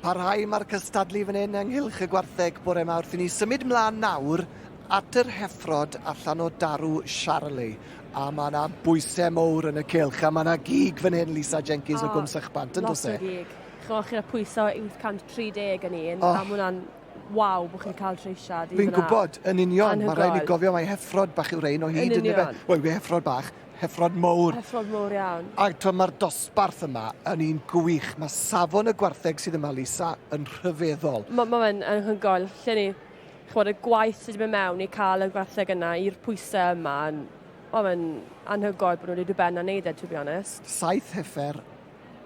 Parhau mae'r cystadlu fan hyn ynghylch y gwartheg bore yma wrth i ni symud mlaen nawr at yr heffrod allan o darw Charlie. A mae yna bwysau mowr yn y cilch, a mae yna gig fan hyn Lisa Jenkins o, o Gwmsach Bant, yn dweud? Lot o gig. Chwch, chi'n pwysau 831 yn un, oh. a mae hwnna'n Waw, bo chi'n cael treisiad i fyna. Fi'n gwybod, yn union. Mae rhaid ni gofio mai heffrod bach yw'r rhain o hyd, yn union. Wel, yw e heffrod bach? Heffrod mowr. Heffrod mowr iawn. A to, mae'r dosbarth yma yn un gwych. Mae safon y gwartheg sydd yma, Lisa, yn rhyfeddol. Mae ma fe'n anhygoel. Lle ni, chwod, y gwaith sydd wedi mynd mewn i cael y gwartheg yna i'r pwysau yma. Mae fe'n anhygoel bod nhw wedi dod ben a wneud e, to be honest. Saith heffer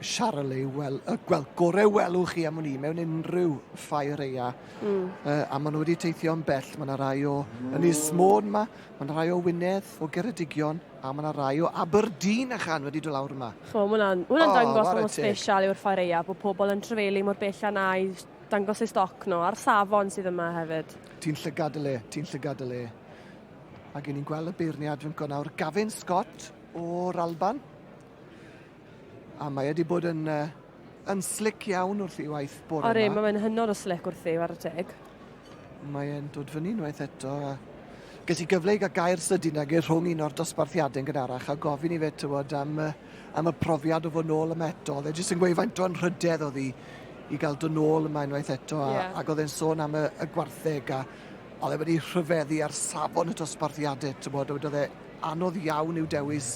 Charlie, wel, y gweld gorau welwch chi am wn i mewn unrhyw ffair eia. Mm. Uh, a maen nhw wedi teithio yn bell. Mae yna rai o yn Ismôn yma, mae yna rai o Wynedd, o Geredigion, a mae yna rai o Aberdeen a chan wedi dod lawr yma. Chmo, mae hwnna'n oh, dangos mor special yw'r ffair eia, bod pobl yn trefelu mor bell a na i dangos ei stoc nhw, a'r safon sydd yma hefyd. Ti'n llygad y le, ti'n llygad y le. Ac ni'n gweld y beirniad yn gwneud nawr Gavin Scott o'r Alban. A mae wedi bod yn, uh, yn slic iawn wrth i waith bore yma. Ori, mae'n hynod o slic wrth i, ar y teg. Mae'n dod fyny unwaith eto. Ges i gyfle i gael gair sydyn ag i'r rhwng un o'r dosbarthiadau yn gynharach a gofyn i fe tywod am, am y profiad o fod nôl yma eto. Oedd e jyst yn gweud faint o'n rhydedd oedd hi i gael dod nôl yma unwaith eto a, yeah. ac oedd e'n sôn am y, y gwartheg a oedd e wedi rhyfeddu ar safon y dosbarthiadau, tywod, oedd e Anodd iawn yw dewis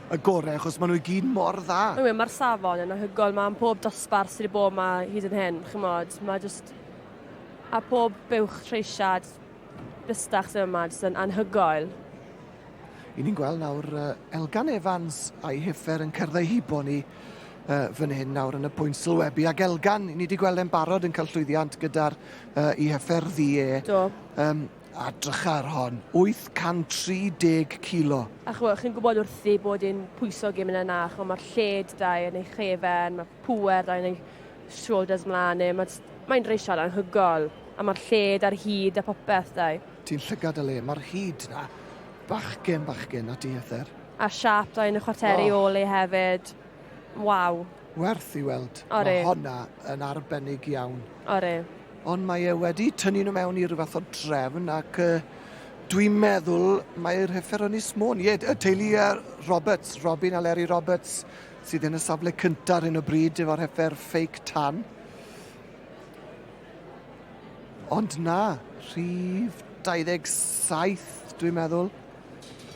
y gorau achos maen nhw i gyd mor dda. Mae'n wir, mae'r safon yn anhygoel, mae am pob dosbarth sydd wedi bod yma hyd yn hyn, chymod, mae just... a pob buwch treisiad bystach sydd yma, jyst yn anhygoel. I ni'n gweld nawr uh, Elgan Evans a'i hyffer yn cyrdd ei hibo ni uh, fan hyn nawr yn y pwynt sylwebu. Ac Elgan, ni wedi gweld e'n barod yn cael llwyddiant gyda'r uh, i hyffer ddi e. Do. Um, A drychar hon, 830 kilo. A ch'mo', chi'n gwybod wrthi bod e'n pwyso gêm yna na, ch'mo' ma'r lled 'da e yn ei chefn, ma' pŵer 'da e yn ei shoulders mlan e, ma' jyst, mae'n reisiad anhygoel. A ma'r lled a'r hud a popeth 'da e. Ti'n llygad o le, ma'r hud 'na. Bachgen, bachgen, na ti Ether. A'r siâp 'da e yn y chwarteri ôl e hefyd. Waw. Werth i weld. Ore. Mae honna yn arbennig iawn. Ore. Ond mae e wedi tynnu nhw mewn i rhyw fath o drefn ac uh, dwi'n meddwl mae'r heffer yn ismôn. Ie, y teulu uh, Roberts, Robin a Leri Roberts, sydd yn y safle cyntaf ar hyn o bryd efo'r heffer fake tan. Ond na, rhif 27 dwi'n meddwl.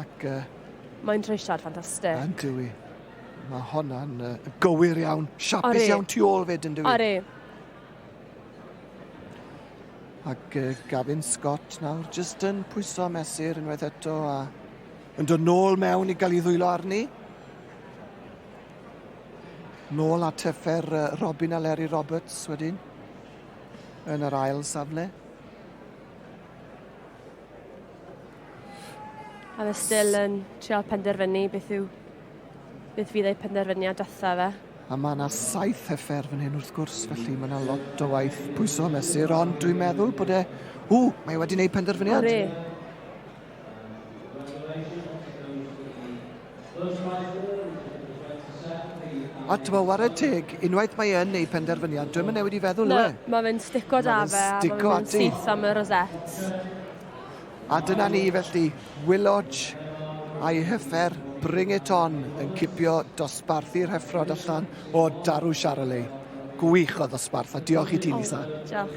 Ac... Uh, Mae'n treisiad ffantastig. Yn dwi. Mae honna'n uh, gywir iawn. Siapus iawn tu ôl fyd yn dwi. Ori. Ac uh, Gavin Scott nawr jyst yn pwyso mesur unwaith eto a yn dod nôl mewn i gael ei ddwylo arni. Nôl at effer uh, Robin a Larry Roberts wedyn yn yr ail safle. A fe still yn trial penderfynu beth yw... beth fydd ei penderfyniad datha fe. A mae yna saith heffer fan hyn wrth gwrs, felly mae yna lot o waith pwyso mesur, ond dwi'n meddwl bod e... Ww, mae e wedi gwneud penderfyniad. Ore. A ti'n meddwl, ware teg, unwaith mae yn ei phenderfyniad, dwi'n yn newid i feddwl, yw e? Na, mae fe'n stico da fe, a mae fe'n syth am y rosettes. A dyna ni felly, Willodge a'i hyffer Bring It On yn cipio dosbarthu rheffrod allan o Darw Charolais. Gwych o ddosbarth, a diolch i ti, Lisa. Diolch.